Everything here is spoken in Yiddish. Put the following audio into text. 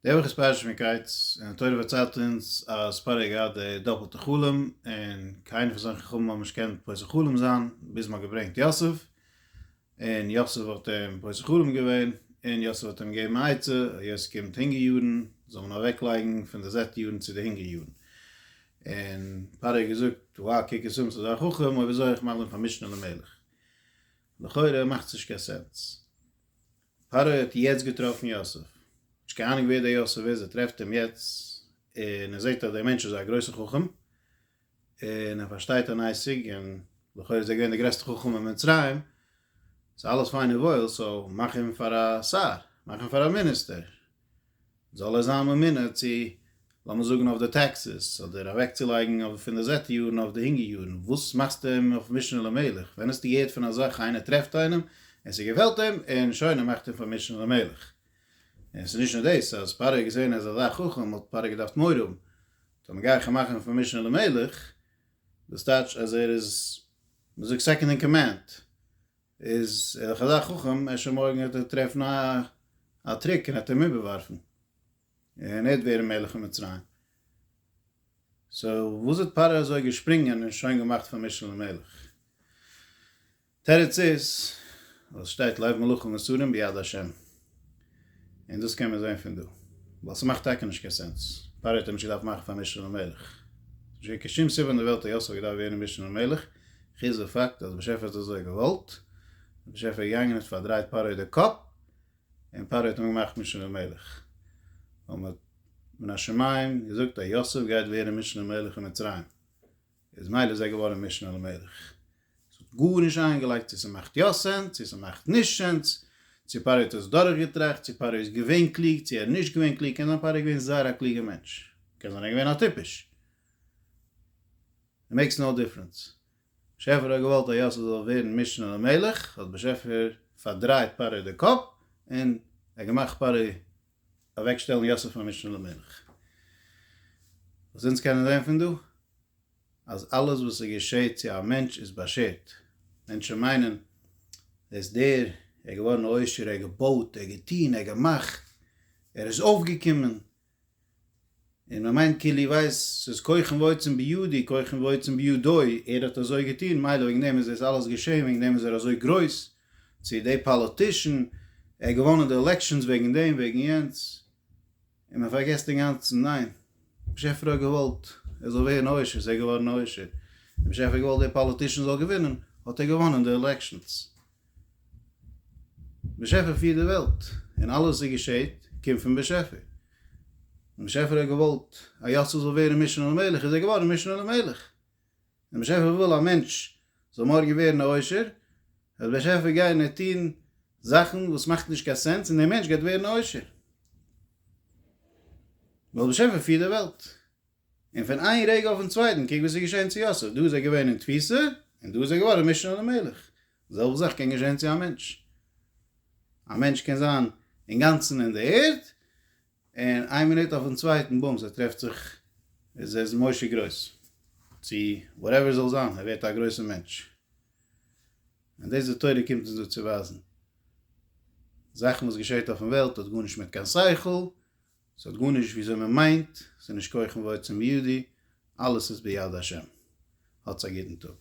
די אורחות פרשת מקץ אין די תורה פארציילט אונז אז פרעה האט געהאט די דאפלטע חלום און קיינער פון זיינע חכמים האבן נישט געקענט פוסק חלום זיין ביז מען האט געברענגט יוסף און יוסף האט אים פוסק חלום געווען און יוסף האט אים געגעבן א עצה היות עס קומט הונגער יארן זאל מען אוועק לייגן פון די זעט יארן צו די הונגער יארן און פרעה האט געזאגט wow קוק עס אן ס'איז אזא חכם אויב אזוי איך מאך דעם פאר משנה למלך לכאורה מאכט עס נישט קיין סענס. פרעה האט יעצט געטראפן יוסף, נישט קיין אהנונג ווער דער יוסף איז, ער טרעפט אים יעצט און ער זעט אז דער מענטש איז א גרויסער חכם און ער פארשטייט אן עסק און לכאורה איז ער געווען דער גרעסטער חכם אין מצרים, ס'איז אלעס פיין און וואויל, סאו מאך אים פאר א שר, מאך אים פאר א מיניסטער. זאל ער זיין ממונה צו לאמיר זאגן אויף די טעקסעס אדער אוועקצולייגן אויף פון די זעט יארן אויף די הונגער יארן וואס מאכסטו אים אויף משנה למלך ווען האסטו געהערט פון אזעלכע איינער טרעפט איינעם און ס'געפעלט אים און שוין ער מאכט אים פאר משנה למלך און ס'איז נישט נאר דאס אז פרעה האט געזען ער איז אזא חכם האט פרעה געדארפט מורא האבן טאמער גיי איך אים מאכן פאר משנה למלך דאס טייטש אז ער איז מ'זאגט סעקאנד אין קאמענד איז ער דאך אזא חכם, אפשר מארגן וועט ער טרעפן א טריק און וועט אים איבערווארפן, און ער וועט ווערן מלך אין מצרים. סאו וואס האט פרעה אזוי געשפרינגען און שוין געמאכט פאר משה'ן למלך? תירוץ איז, ווייל עס שטייט לב מלכים וסרים ביד השם. און דאס קען מען זען פון דא. ווייל ס'מאכט טאקע נישט קיין סענס. פרעה האט אים נישט געדארפט מאכן פאר משנה למלך. ס'נישט געווען קיין שום סיבה אין די וועלט אז יוסף האט געדארפט ווערן משנה למלך, חוץ די פאקט אז דער באשעפער האט אזוי געוואלט. דער באשעפער איז געגאנגען און האט פארדרייט פרעה די קאפ, און פרעה האט אים געמאכט משנה למלך. ווייל מ'האט מן השמים געזאגט אז יוסף גייט ווערן משנה למלך אין מצרים. איז מילא זיי געווארען משנה למלך. עס האט גארנישט איינגעלייגט צו ס'מאכט יא סענס צו ס'מאכט נישט סענס, צו פרעה האט עס דורך געטראכט, צו פרעה איז געווען קלוג, צו ער איז נישט געווען קלוג, קען זיין פרעה איז געווען זייער א קלוגע מענטש, קען זיין ער איז געווען א טיפש, איט מעיקס נאו דיפרענס, באשעפער האט געוואלט אז יוסף זאל ווערן משנה למלך, האט באשעפער פארדרייט פרעה די קאפ, און ער האט געמאכט פרעה אוועקשטעלן יוסף המשנה למלך. וואס אונז קענען זען פון דא? אז אלעס וואס ס'געשעהט צו א מענטש איז באשערט. מענטשן מיינען ער איז דער, ער איז געווארן עושר, ער האט געבויט, ער האט געטון, ער האט געמאכט, ער איז אויפגעקומען. און מען מיינט כאילו איך ווייס, ס'איז כוחם ועוצם בידי, כוחם ועוצם בידו, ער האט אזוי געטון, מילא וועגן דעם איז דאס אלעס געשען, וועגן דעם איז ער אזוי גרויס, צו דעי פאלאטישן, ער האט געוואנען די עלעקשאנס וועגן דעם, וועגן יענץ, און מען פארגעסט אינגאנצן, ניין, באשעפער האט געוואלט ער זאל ווערן עושר, איז ער געווארן עושר, און באשעפער האט געוואלט דעי פאלאטישן זאל געווינען, האט ער געוואנען די עלעקשאנס, באשעפער פירט די וועלט, און אלעס וואס געשעהט קומט פון באשעפער. און באשעפער האט געוואלט אז יאסל זאל ווערן משנה למלך, איז ער געווארן משנה למלך. און באשעפער וויל א מענטש זאל מארגן ווערן א עושר, וועט באשעפער גיין און טון זאכן וואס מאכט נישט קיין סענס און דער מענטש גייט ווערן א עושר. ווייל באשעפער פירט די וועלט. און פון איין רגע אויפן צווייטן קוק וואס איז געשען צו יוסף, דא איז ער געווען אין תפיסה, און דא איז ער געווארן משנה למלך, די זעלבע זאך קען געשען צו א מענטש, א מענטש קען זיין אינגאנצן אין די ערד, און איין מינוט אויפן צווייטן בומס ער טרעפט זיך איז ער איז משה גרויס, צו וואטעווער ס'זאל זיין, ער ווערט א גרויסער מענטש, און דאס די תורה קומט אונז דא צו ווייזן, זאכן וואס געשעט אויפן וועלט האט גארנישט מיט קיין שכל, ס'האט גארנישט וויאזוי מען מיינט, ס'איז נישט כח ועוצם ידי, אלעס איז ביד השם. האטס א גוטן טאג.